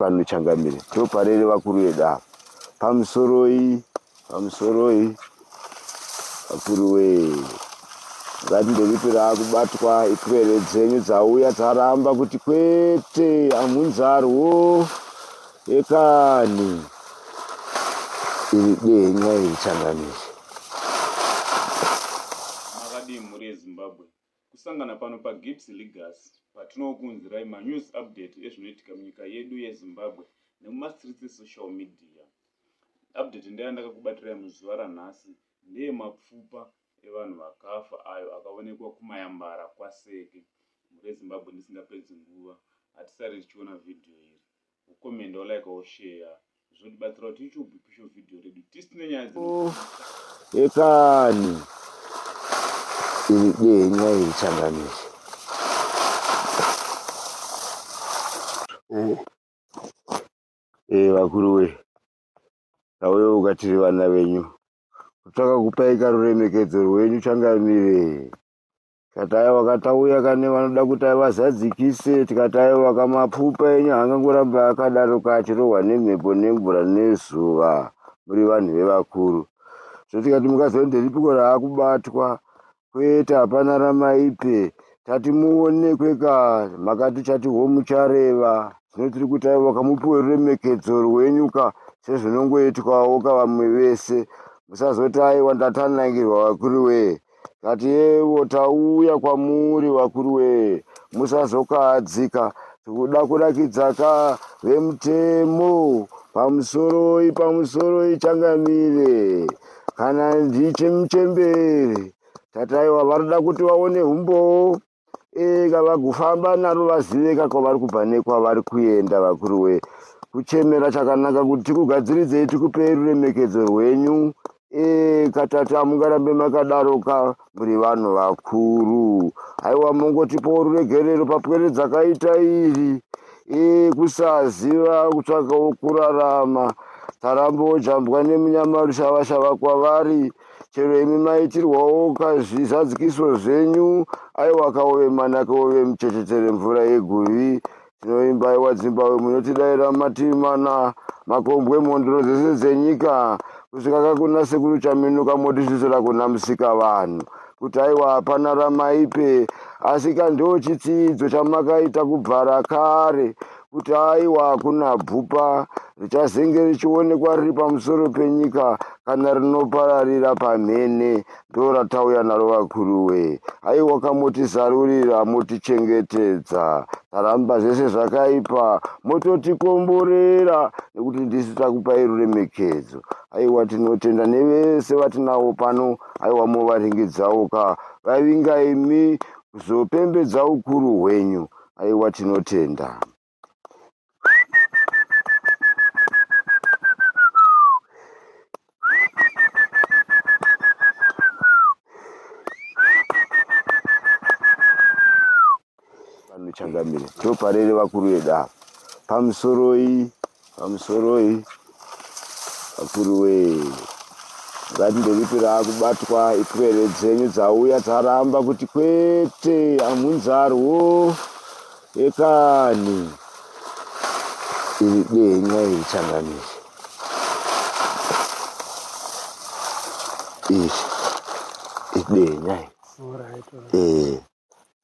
panochangamire ndoparere vakuru vedu ava pamusoroi pamusoroi vakuru wee ngati ndekutora kubatwa ipwere dzenyu dzauya dzaramba kuti kwete amunzarwo ekani iri denya iri changamire Kusangana pano paGibbs Legacy patinokuunzirai manews update ezvinoitika munyika yedu yeZimbabwe nemumastreets esocial media. Update ndeyandakakubatirai muzuva ranhasi ndeyemapfupa evanhu vakafa ayo akaonekwa kuMayambara kwaSeke mhuri yeZimbabwe ndisingapedzi nguva hatisare tichiona video iri. ku comment or like or share zvotibatsira kuti ichi ubhipisho video redu tisine nyaya dzino ekani iri denga iri changamire ee vakuru we tauye ukatiri vana venyu kutsvaka kupai karuremekedzo rwenyu changamire Tikataya wakatauya kane vanoda kuti vazadzikise tikataya wakamapfupa enyu angangoramba akadaroka achirohwa nemhepo nemvura nezuva muri vanhu vevakuru so tikati mukaziva kuti nderipiko raakubatwa kwete hapana ramaipe tati muonekwe ka makati chati ho muchareva zvino tiri kuti aiwa wakamupiwe ruremekedzo rwenyu ka sezvinongoitwawo ka vamwe vese musazoti aiwa ndatanangirwa vakuru wee Kati yevo tauya kwamuri vakuru wee musazokahadzika tikuda kurakidza ka vemutemo pamusoroi pamusoroi changamire kana ndichimuchembere tataiwa vanoda kuti vaone humbowo eh, ka vagufamba naro vazive ka kwavari kubva nekwavari kuenda vakuru wee kuchemera chakanaka kuti tikugadziridzei tikupei ruremekedzo rwenyu eh, katatu hamungarambe makadaro ka muri vanhu vakuru haiwa mongotipowo ruregerero papwere dzakaita iri eh, kusaziva kutsvakawo kurarama tarambo jambwa nemunyama rushava shava kwavari chero imi maitirwawo kazvizadzikiso zvenyu aiwa kaove manake ove muchechetere mvura yeguvi tinoimba iwa dzimbabwe munotidaira mativi mana makombwe mhondoro dzese dzenyika kusvika kakuna sekuru chaminuka motisvisira kuna musika vanhu kuti aiwa hapana ramaipe asi kandoo chitsiidzo chamakaita kubvara kare kuti aiwa hakuna bvupa richazenge richionekwa riri pamusoro penyika kana rinopararira pamhene ndo ratauya naro vakuruwe haiwa kamotizarurira motichengetedza taramba zvese zvakaipa mototikomborera nekuti ndisu takupai ruremekedzo haiwa tinotenda nevese vatinawo pano haiwa movaringidzawo ka vavinga imi kuzopembedza ukuru hwenyu haiwa tinotenda Changamire ndoparere vakuru vedu ava pamusoroi pamusoroi vakuru wee ngati ndekupira kubatwa ipwere dzenyu dzauya dzaramba kuti kwete amunzarwo ekani iri denga iri changamire iri idenya iri ee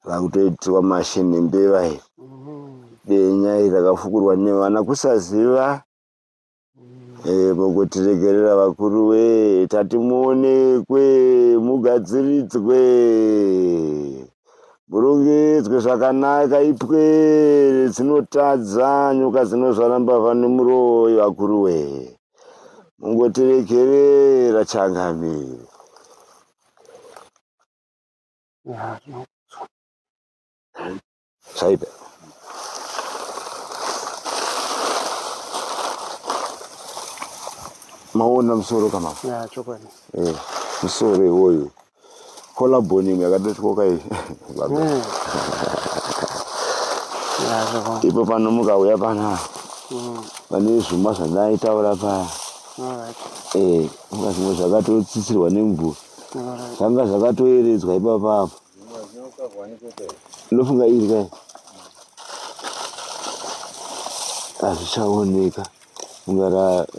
vakutoitirwa mashini mbeva iyi denya iri rakafukurwa nevana kusaziva eh, mukutiregerera vakuru we tati muonekwe mugadziridzwe murongedzwe zvakanaka ipwere dzinotadza nyoka dzinozvara mbavha nemuroyi vakuru we mungotiregerera changamire Saiba. Maona musoro kama. Ya chokwadi. Eh, musoro iwoyo. Kola boni imwe yakadotyoka iyi. Baba. Hmm. Ya chokwadi. Ipo pano mukauya pana. Mm. Pane zvuma zvandai taura pa. All right. Eh, mukazimwe zvakatotsitsirwa nemvura. zvanga zvakatoeredzwa ipapa apa ndofunga iri kai hazvichaoneka funga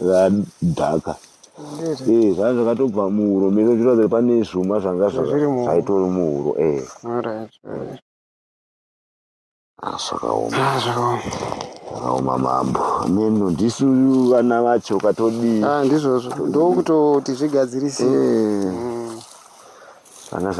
radhaka ee eh, zvanga zvakatobva muhuro mese zviratidza kuti pane zvuma zvanga zvaitori muhuro ee eh. Ah, zvakaoma ah, zvakaoma zvakaoma mambo neno ndisu vana vacho ukatodii ah, ndizvozvo ndokutoti zvigadzirise eh. mm.